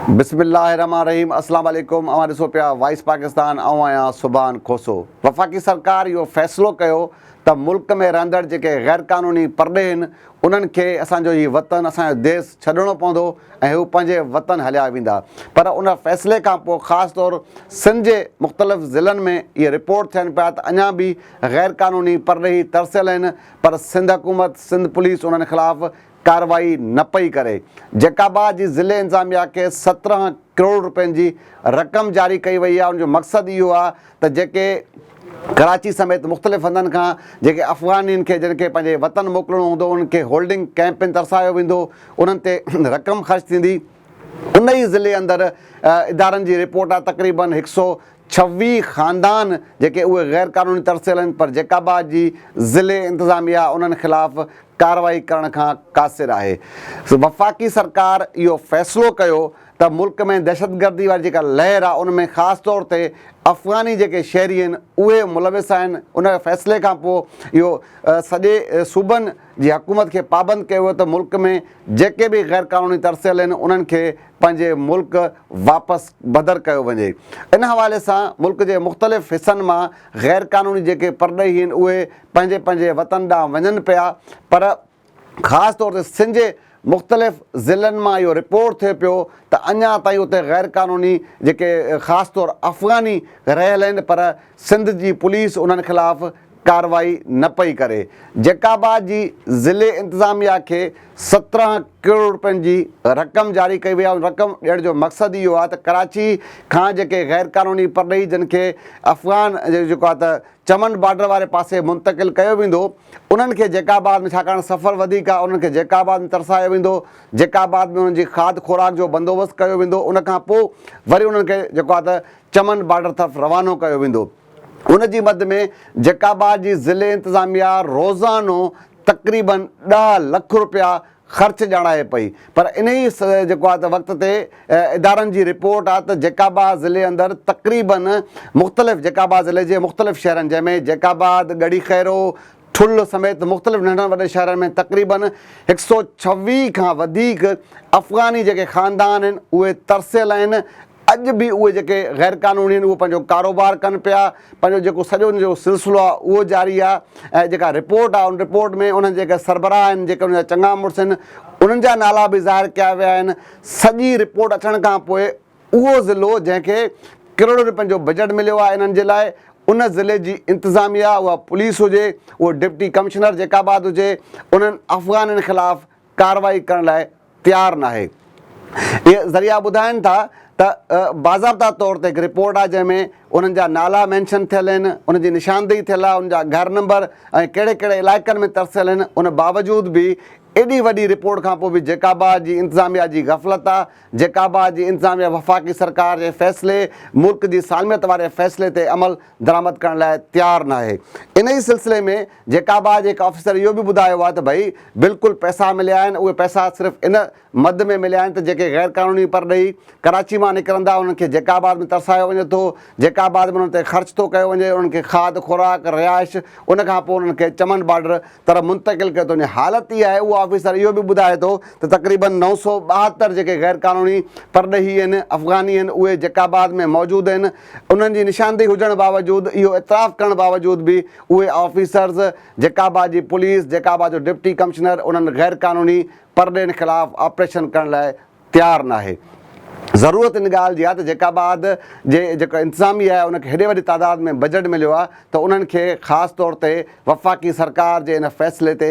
بسم الله الرحمن الرحيم اسلام عليڪم اوهان ڏسو پيا وائس پاڪستان آئون آهيان سبحان کوسو وفاقي سرڪار اهو فيصلو ڪيو ته ملڪ ۾ رهندڙ جيڪي غيرقانوني پرڏيهين انهن کي اسان جو هي وطن، اسان جو ديس ڇڏڻو پوندو ۽ هو پنهنجي وطن هليا ويندا. پر ان فيصلي کان پوء خاص طور سنڌ جي مختلف ضلعن ۾ اهي رپورٽ ٿين پيا ته اڃا به غيرقانوني پرڏيهي ترسيل آهن پر سنڌ حڪومت، سنڌ پوليس انهن خلاف ڪارروائي نه پئي ڪري. جيڪابا جي ضلعي انتظاميا کي سترهن. ڪروڙ رپين جي رقم جاري ڪئي وئي آهي ان جو مقصد اهو آهي ته جيڪي ڪراچي سميت مختلف هنڌن کان جيڪي افغانين کي جن کي پنهنجي وطن موڪلڻو هوندو انهن کي هولڊنگ ڪئمپن ترسايو ويندو انهن تي رقم خرچ ٿيندي ان ئي ضلعي اندر ادارن جي رپورٽ آهي تقريبن هڪ سؤ ڇويهه خاندان جيڪي اهي غير قانوني ترسيل آهن پر جيڪب آباد جي ضلعي انتظاميا انهن خلاف ڪارروائي ڪرڻ کان قاصر آهي وفاقي سرڪار اهو فيصلو ڪيو ته ملڪ ۾ دهشتگردي واري جيڪا لهر آهي ان ۾ خاص طور تي افغاني جيڪي شهري آهن اهي ملوث آهن ان فيصلي کان پوء اهو سڄي صوبن جي حڪومت کي پابند ڪيو ويو ته ملڪ ۾ جيڪي به غير قانوني ترسيل آهن انهن کي پنهنجي ملڪ واپس بدر ڪيو وڃي. ان حوالي سان ملڪ جي مختلف حصن مان غير قانوني جيڪي پرڏيهي آهن اهي پنهنجي پنهنجي وطن ڏانهن وڃن پيا پر خاص طور تي سنڌ جي مختلف ضلعن مان اهو رپورٽ ٿئي پيو ته اڃا تائين اتي غير قانوني جيڪي خاص طور افغاني رهيل آهن پر سنڌ جي پوليس انهن خلاف ڪارروائي نه پئي ڪري، جيڪب آباد جي ضلعي انتظاميا کي سترهن ڪروڙ رپين جي رقم جاري ڪئي وئي آهي ان رقم ڏيڻ جو مقصد اهو آهي ته ڪراچي کان جيڪي غيرقانوني پرڏيهي جن کي افغان جيڪو آهي ته چمن بارڊر واري پاسي منتقل ڪيو ويندو انهن کي جيڪب آباد ۾ ڇاڪاڻ سفر وڌيڪ آهي انهن کي جيڪب آباد ۾ ترسايو ويندو جيڪب آباد ۾ انهن جي کاڌ خوراڪ جو بندوبست ڪيو ويندو ان کان پوء وري انهن کي جيڪو آهي ته چمن بارڊر طرف روانو ڪيو ويندو. ان جي مد ۾ جيڪب آباد جي ضلعي انتظاميا روزانو تقريبا ڏهه لک رپيا خرچ ڄاڻائي پئي پر انهي جيڪو آهي ته وقت تي ادارن جي رپورٽ آهي ته جيڪب آباد ضلعي اندر تقريبا مختلف جيڪب آباد ضلعي جي مختلف شهرن جنهن ۾ جيڪب آباد، ڳڙهي خيرو، ٺل سميت مختلف ننڍن وڏن شهرن ۾ تقريبا هڪ سؤ ڇويهه کان وڌيڪ افغاني جيڪي خاندان آهن اهي ترسيل آهن ۽ اڄ به اهي جيڪي غير قانوني آهن اهي پنهنجو ڪاروبار ڪن پيا پنهنجو جيڪو سڄو ان جو سلسلو آهي اهو جاري آهي ۽ جيڪا رپورٽ آهي ان رپورٽ ۾ انهن جيڪي سربراهه آهن جيڪي انهن جا چڱا مڙس آهن انهن جا نالا به ظاهر ڪيا ويا آهن سڄي رپورٽ اچڻ کان پوء اهو ضلعو جنهن کي ڪروڙين رپين جو بجيٽ مليو آهي انهن جي لاء ان ضلعي جي انتظاميه اها پوليس هجي اهو ڊپٽي ڪمشنر جيڪاباد هجي انهن افغانين خلاف ڪارروائي ڪرڻ لاء تيار ناهي. اهي ذريعا ٻڌائين ٿا ته باضابطا طور تي هڪ رپورٽ آهي جنهن ۾ انهن جا نالا مينشن ٿيل آهن، انهن جي نشاندهي ٿيل آهي، انهن جا گهر نمبر ۽ ڪهڙي ڪهڙي علائقن ۾ ترسيل آهن، ان باوجود به ايڏي وڏي رپورٽ کانپوء به جيڪابا جي انتظاميا جي غفلت آهي، جيڪابا جي انتظاميا وفاقي سرڪار جي فيصلي، ملڪ جي سالميت واري فيصلي تي عمل درآمد ڪرڻ لاء تيار ناهي. انهي سلسلي ۾ جيڪابا جي هڪ آفيسر اهو به ٻڌايو آهي ته ڀئي بلڪل پئسا مليا آهن، اهي پئسا صرف ان مد ۾ مليا آهن ته جيڪي غير قانوني پرڏيهي ڪراچي مان نڪرندا انهن کي جيڪاباد ۾ ترسايو وڃي ٿو، جيڪاباد ۾ انهن تي خرچ ٿو ڪيو وڃي، انهن کي کاڌ خوراڪ، رهائش، ان کان پوء انهن کي چمن بارڊر طرف منتقل ڪيو ٿو وڃي، حالت اها آهي اهو آفيسر اهو به ٻڌائي ٿو ته تقريبن نو سؤ ٻاهتر جيڪي غير قانوني پرڏيهي آهن، افغاني آهن اهي جيڪاباد ۾ موجود آهن، انهن جي نشاندهي هجڻ باوجود اهو اعتراف ڪرڻ باوجود به اهي آفيسرز جيڪابا جي پوليس جيڪابا جو ڊپٽي ڪمشنر انهن غير قانوني پرڏيهين خلاف آپريشن ڪرڻ لاء تيار ناهي ضرورت ان ڳالهه جي آهي ته جيڪاباد جي جيڪو انتظاميه آهي ان کي هيڏي وڏي تعداد ۾ بجٽ مليو آهي ته انهن کي خاص طور تي وفاقي سرڪار جي ان فيصلي تي